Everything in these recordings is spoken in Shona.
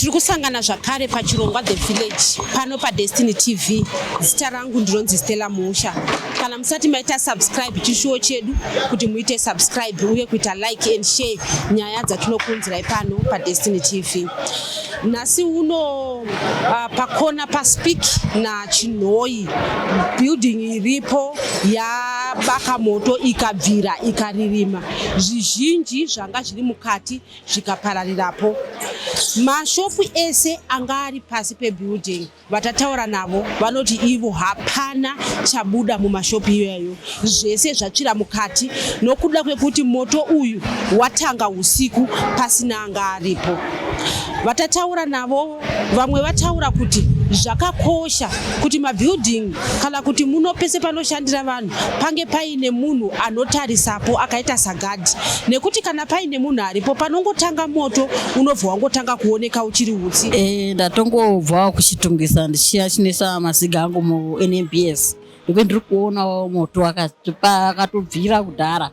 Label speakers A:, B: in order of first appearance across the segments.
A: tiri kusangana zvakare pachirongwa the village pano padestiny tv zita rangu ndinonzi stella musha kana musati maita subscribe chishuwo chedu kuti muite subscribe uye kuita like and share nyaya dzatinokuunzirai pano padestiny tv nhasi uno uh, pakona paspeak nachinhoyi building iripo yabaka moto ikabvira ikaririma zvizhinji zvanga zviri mukati zvikapararirapo mashopu ese anga ari pasi pebuilding vatataura navo vanoti ivo hapana chabuda mumashopu iyoyo zvese zvatsvira mukati nokuda kwekuti moto uyu watanga usiku pasina anga aripo vatataura navo Vamwe vataura kuti zvakakosha kuti mabhilding kana kuti muno pese panoshandira vanhu pange paine munhu anotarisapo akaita sagadhi nekuti kana paine munhu aripo panongotanga moto unobva wangotanga kuoneka uchiri utsi. E, ndatongobvawo
B: kuchitungisa ndichiya chinesa maziga angu munmbs nekuti ndiri kuonawo moto akatobvira kudhara.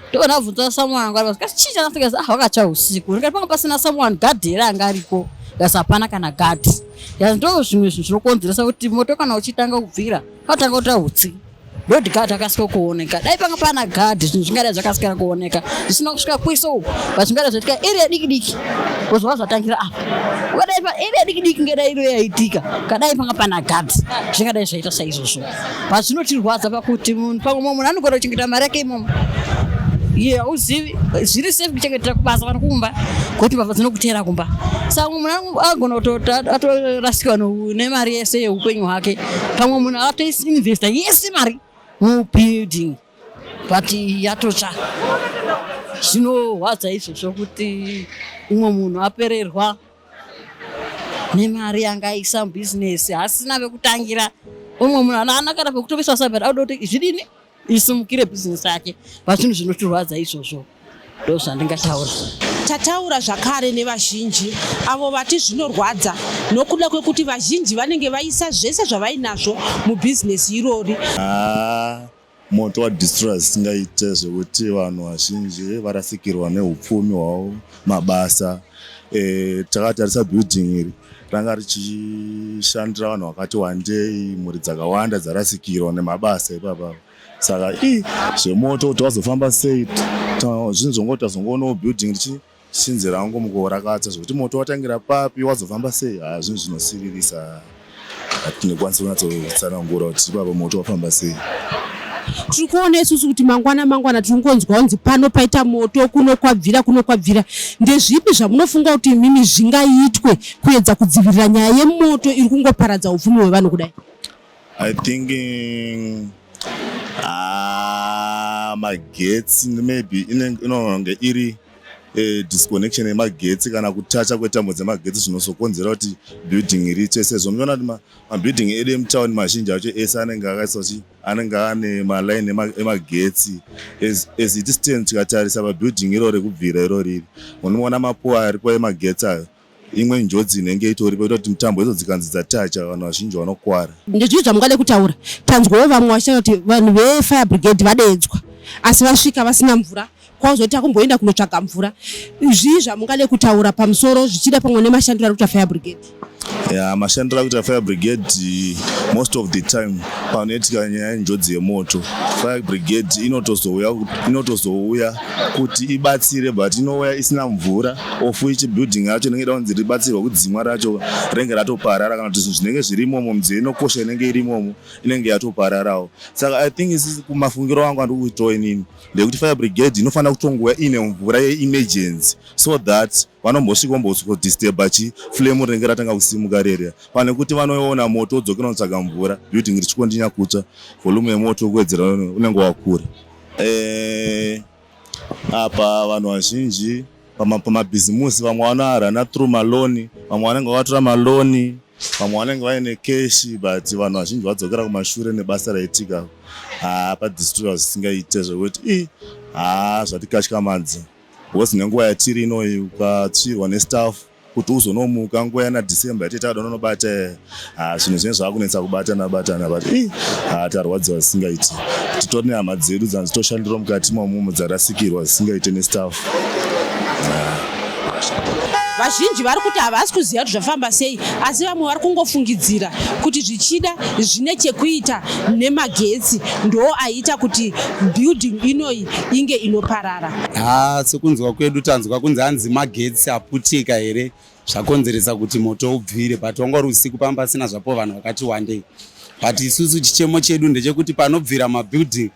B: ndiko ndabvunza someone anga aripo ndikati chii chanafika ndikati ah wakatsva usiku ndikati panga pasina someone gadhi here anga ariko ndikati hapana kana gadhi ndikati ndo zvimwe zvinhu zvinokonzeresa kuti moto kana uchitanga kubvira anotanga kuita utsi ndoti gadhi akasika kuoneka dai panga pana gadhi zvinhu zvingadai zvakasikira kuoneka zvisina kusvika kwiso uku but zvingadai zvaitika iri yadiki diki kuzova zvatangira apa ukadai pa iri yadiki diki ngedairo yaitika kadai panga pana gadhi zvingadai zvaita saizvozvo but zvinotirwadza pakuti munhu pamwe mumwe munhu anogona kuchengeta mari yake imomo iye hauzivi zviri safe kuchengetera kubasa kana kumba kuti mbavha dzinokuteera kumba saka mumwe munhu agona kutorasikirwa nemari yese yeupenyu hwake pamwe munhu atoinvesta yese mari mubuilding but yatotsva zvinorwadza izvozvo kuti umwe munhu apererwa nemari yanga aisa mubhizinesi hasina vekutangira umwe munhu anaana kana pekutovisa sabet auda kuti zvidini isimukire bhizinesi yake vazvinhu zvinotirwadza izvozvo ndo zvandingataura tataura
A: zvakare nevazhinji avo vati zvinorwadza nokuda kwekuti vazhinji vanenge vaisa zvese zvavainazvo mubhizinesi irori ah,
C: Moto wa destroyer zvisingaite zvekuti vanhu vazhinji varasikirwa neupfumi hwavo, mabasa. Eh, takatarisa building iri ranga richishandira vanhu vakati wandei, mhuri dzakawanda dzarasikirwa nemabasa ipapa. Saka ii zvemoto kuti wazofamba sei, zvinhu zvongoti tazongoonawo building richi Since rangu mukuorakadza zvekuti moto watangira papi wazofamba sei haa zvinhu zvinosiririsa hatinekwanisa kunyatsotsanangura kuti ipapa moto wafamba sei tiri
A: kuona isusu kuti mangwana mangwana tiri kungonzwa kunzi pano paita moto kuno kwabvira kuno kwabvira ndezvipi zvamunofunga kuti imimi zvingaitwe kuedza kudzivirira nyaya yemoto iri kungoparadza upfumi hwevanhu kudai I think
C: ah, magetsi maybe inonge iri eh, disconnection yemagetsi kana kutacha kwetambo dzemagetsi zvinozokonzera kuti building ritsve sezvo muchiona kuti mabuilding edu emutown mazhinji acho ese anenge akaisa kuti anenge ane maline emagetsi as it stands tikatarisa pabuilding irori kubvira iroriri unoona mapuwa aripo emagetsi ayo imwe njodzi inenge itori paita kuti mitambo idzo dzikanzi dzatacha vanhu vazhinji vanokwara ndezvii zvamungade kutaura
A: tanzwawo vamwe vachitaura kuti vanhu vefire brigade vadeedzwa asi vasvika vasina mvura kwauzoti akumboenda kunotsvaga mvura zvii zvamungade kutaura pamusoro zvichida pamwe nemashandiro ari kuita fire brigade ya mashandiro
C: ari kuita fire brigade most of the time panoitika nyaya yenjodzi yemoto fire brigade inotozouya inotozouya kuti ibatsire but inouya isina mvura ofu ichi building yacho inenge ida kunzi ribatsirwa kudzimwa racho renge ratoparara kana kuti zvinhu zvinenge zviri imomo midziyo inokosha inenge iri imomo inenge yatopararawo saka i think isi kumafungiro angu andiri kuitawo inini ndekuti fire brigade inofanira kutongouya ine mvura yeemergency so that vanombosvika ombodisturba chi flame rinenge ratanga kusimuka reria pane kuti vanoona moto odzokera kunotsvaga mvura building richikondinya kutsva volume yemoto kuwedzera unenge wakura eh, Apa vanhu vazhinji pamabhizimusi vamwe vanoarana through maloni, vamwe vanenge vakatora maloni, vamwe vanenge vaine keshi but vanhu vazhinji vadzokera kumashure nebasa raitika haa padistriwa zvisingaite zvekuti i haa zvatikatyamadza bcause nenguva yatiri inoyi ukatsvirwa nestaff kuti uzonomuka nguva yana december yatete ada unonobata ah, zvinhu zvinenge zvakunetsa kubatana batana but i ah, tarwadziwa zvisingaiti titori nehama dzedu dzanzi toshandirwa mukati mamumo dzarasikirwa zvisingaite nestaff
A: vazhinji vari kuti havasi kuziva kuti zvafamba sei asi vamwe vari kungofungidzira kuti zvichida zvine chekuita nemagetsi ndoo aita kuti building inoyi inge inoparara. Haa ah, sekunzwa
D: kwedu tanzwa kunzi hanzi magetsi aputika here zvakonzeresa kuti moto ubvire but wanga uri usiku pamba pasina zvapo vanhu vakati wandei but isusu chichemo chedu ndechekuti panobvira mabuilding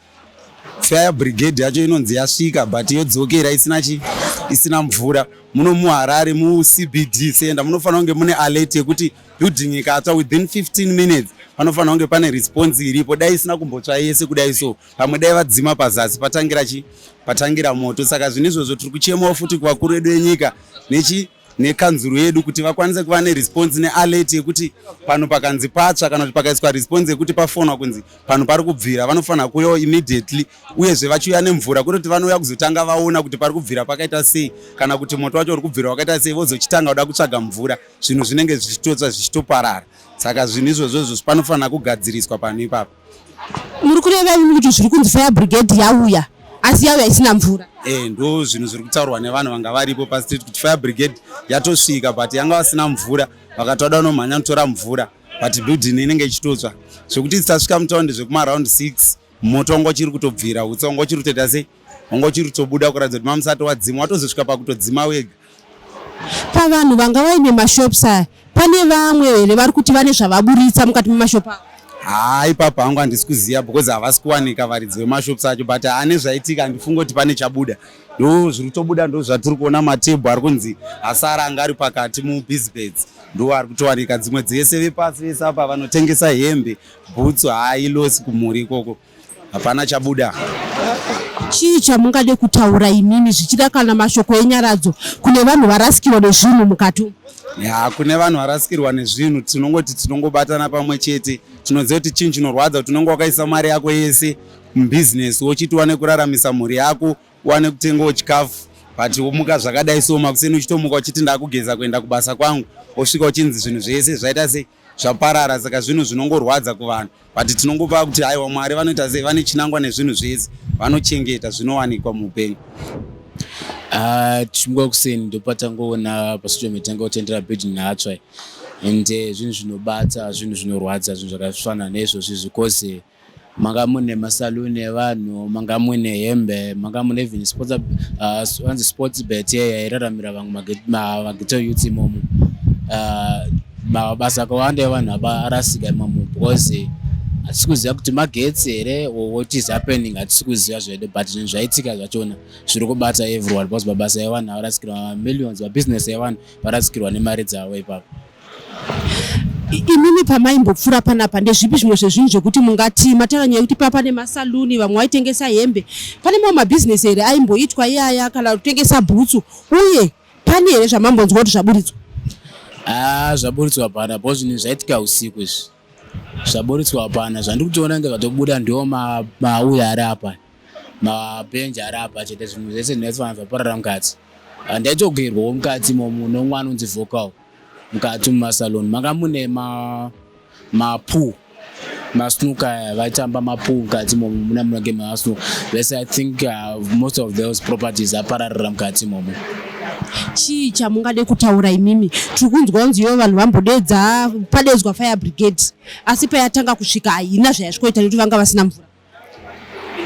D: fire brigade yacho inonzi yasvika but yodzokera isina chi isina mvura muno muharare mucbd center munofanira kunge mune alert yekuti building ikatsva within 15 minutes panofanira kunge pane response iripo dai isina kumbotsva yese kudai so pamwe dai vadzima pazasi patangira chi patangira moto saka zvine izvozvo tiri kuchemawo futi kuvakuru vedu venyika nechi nekanzuru yedu kuti vakwanise kuva neresponse nealert yekuti pano pakanzi patsva kana kuti pakaiswa response yekuti pafonwa kunzi pano pari kubvira vanofanira kuuyawo immediately uyezve vachiuya nemvura kuri kuti vanouya kuzotanga vaona kuti pari kubvira pakaita sei kana kuti moto wacho uri kubvira wakaita sei vozochitanga kuda kutsvaga mvura zvinhu zvinenge zvichitotsva zvichitoparara saka zvinhu izvozvo izvozvo panofanira kugadziriswa pano ipapo muri
A: kureva imi kuti zviri kunzi fire brigade yauya asi yauya isina mvura e ndo zvinhu zviri
D: kutaurwa nevanhu vanga varipo pastreet kuti fire brigade yatosvika but yanga vasina mvura vakatoda vanomhanya kutora mvura but building inenge ichitotsva zvekuti dzisasvika mutaundi zvekuma round six moto wangu wachiri kutobvira utsa wangu wachiri kutoita sei wanga uchiri kutobuda kuratidza kuti mamusati wadzima watozosvika pakutodzima wega
A: pavanhu vanga vaine mashops aya pane vamwe here vari kuti vane zvavaburitsa mukati memashop avo haa ipapo hangu
D: handisi kuziva because havasi kuwanika varidzi vemashops acho but ane zvaitika handifunge kuti pane chabuda ndo zviri kutobuda ndo zvatiri kuona matebhu ari kunzi asara anga ari pakati mubizbeds ndo ari kutowanika dzimwe dzese vepasi vese apa vanotengesa hembe bhutsu haa ilosi kumhuri ikoko hapana chabuda.
A: Chii chamungade kutaura imimi zvichida kana mashoko enyaradzo kune vanhu varasikirwa nezvinhu mukati umu? Ya, kune vanhu
D: varasikirwa nezvinhu tinongoti tinongobatana pamwe chete tinoziva kuti chinhu chinorwadza kuti unenge wakaisa mari yako yese mubhizinesi wochiti wane kuraramisa mhuri yako wane kutengawo chikafu but womuka zvakadai so makuseni uchitomuka uchiti ndakugeza kuenda kubasa kwangu wosvika uchinzi zvinhu zvese zvaita sei zvaparara saka zvinhu zvinongorwadza kuvanhu but tinongopa kuti haiwa mwari vanoita sei vane chinangwa nezvinhu zvese vanochengeta zvinowanikwa muupenyu ah,
E: tichimuka kuseni ndopatangoona pasocial media tanga kutendera bed nhatsva and eh, zvinhu zvinobata zvinhu zvinorwadza zvinhu zvakafanana neizvozvi zvikozi manga mune masaluni evanhu manga mune hembe manga mune even sports ah, anzi sports bet yairaramira vamwe mageto youth imomo ah, mabasa akawanda evanhu abarasika imomo because hatisi kuziva kuti magetsi here or what is happening hatisi kuziva zvedu but zvinhu zvaitika zvachona zviri kubata everyone because mabasa evanhu avarasikirwa mamillions mabusiness evanhu varasikirwa nemari dzavo ipapo imimi
A: pamaimbopfuura panapa ndezvipi zvimwe zvezvinhu zvekuti mungati mataura nyaya yekuti papa nemasaluni vamwe vaitengesa hembe pane mamwe mabhizinesi here aimboitwa iyaya kana kutengesa bhutsu uye Pane here zvamambonzwa kuti zvaburitswa? Ah,
E: zvaburitswa hapana because zvinhu zvaitika usiku izvi. Zvaburitswa hapana. Zvandiri kutoona inge zvatobuda ndiwo mauya ari apa. Mabhenji ari apa chete zvinhu zvese zvinofanira zvaparara mukati. Ndaitogerwawo mukati imomo nomwana unzi vocal. mukati mumasalon manga mune mapoo masnooker eh, vaitamba mapoo mukati momo muna munenge masnooker vese i think uh, most of those properties apararira mukati momo chii
A: chamungade kutaura imimi tiri kunzwa kunzi ivo vanhu vambodeedza padedzwa fire brigade asi payatanga kusvika haina zvayasvikoita nekuti vanga vasina mvura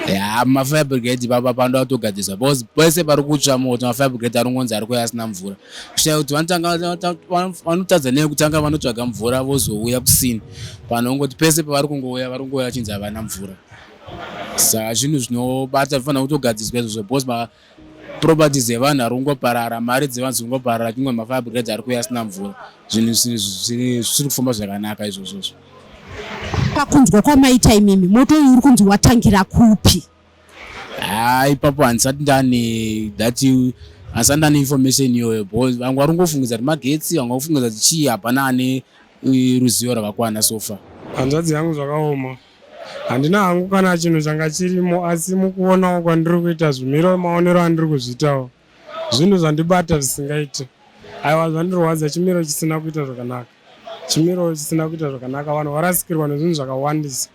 A: ya
E: mafire brigade ipapa panoda kutogadzirisa because pese pari kutsva moto mafire brigade aringonzi ari kuya asina mvura kushaya kuti vanotadza nei kutanga vanotsvaga mvura vozouya kusini vanhu vongoti pese pavari kungouya vari kungouya vachinzi havana mvura saka zvinhu zvinobata zvifanira kutogadziriswa izvozvo because properties dzevanhu ari kungoparara mari dzevanhu dziri kungoparara chingwa mafire brigades ari kuuya asina mvura zvinhu zvisiri kufamba zvakanaka izvozvozvo
A: pakunzwa kwamaita imimi moto uyu uri kunzi watangira kupi haa
E: ipapo handisati ndane that handisati ndane information iyoyo because vamwe vari kungofungidza kuti magetsi vamwe vakufungidza kuti chii hapana ane ruzivo rwakakwana sofa hanzvadzi yangu
F: zvakaoma Handina hangu kana chinhu changa chirimo asi mukuonawo kwandiri kuita zvimiro maonero andiri kuzviitawo zvinhu zvandibata zvisingaite aiwa zvandirwadza chimiro chisina kuita zvakanaka chimiro chisina kuita zvakanaka vanhu varasikirwa nezvinhu zvakawandisa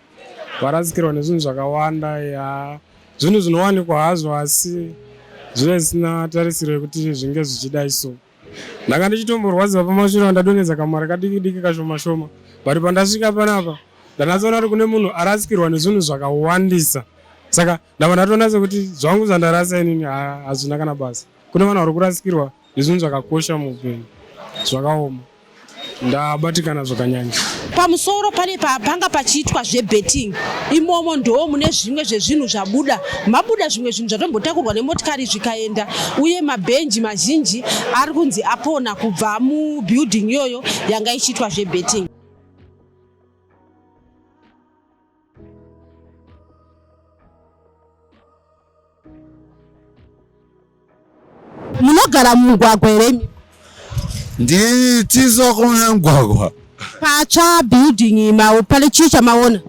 F: varasikirwa nezvinhu zvakawanda ya zvinhu zvinowanikwa hazvo asi zvive zvisina tarisiro yekuti zvinge zvichidai so ndanga ndichitomborwadziwa pamashure andadonedza kamari kadiki diki kashoma shoma but pandasvika panapa ndanatsoona kuti kune munhu arasikirwa nezvinhu zvakawandisa saka ndava ndatoona sekuti zvangu zvandarasa inini hazvina kana basa kune vanhu vari kurasikirwa nezvinhu zvakakosha muupenyu zvakaoma ndabatikana zvakanyanya pamusoro pane
A: panga pachiitwa zvebetting imomo ndoo mune zvimwe zvezvinhu zvabuda mabuda zvimwe zvinhu zvatombotakurwa nemotikari zvikaenda uye mabhenji mazhinji ari kunzi apona kubva mubuilding iyoyo yanga ichiitwa zvebetting munogara mumugwagwa here imi ndiri tizo
G: kuona mugwagwa patsva
A: building ma pane chii chamaona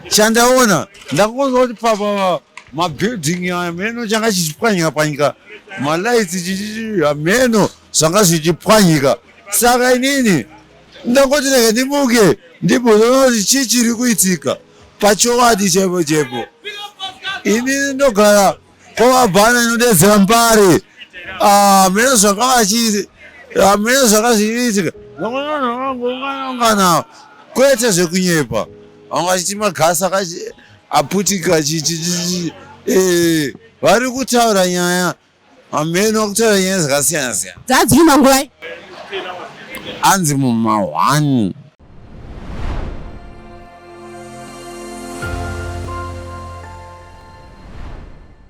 A: chandaona
G: ndakungonzwa kuti papa mabuilding hameno changa chichipwanyika pwanyika malights chichii hameno zvanga zvichipwanyika saka inini ndangoti rega ndimuke ndimboona kuti chii chiri kuitika pachowadi chaipo chaipo ini ndogara kwavabhana inodedzera mbare ah, mene zvanga vachii hamene ah, zvakazviitika unganawo kwete zvekunyepa vanga vachiti magasi aputika eh, vari kutaura nyaya Hameno kutaura nyaya dzakasiyana siyana. Dzadzii
A: manguvai?
G: Anzi muma one.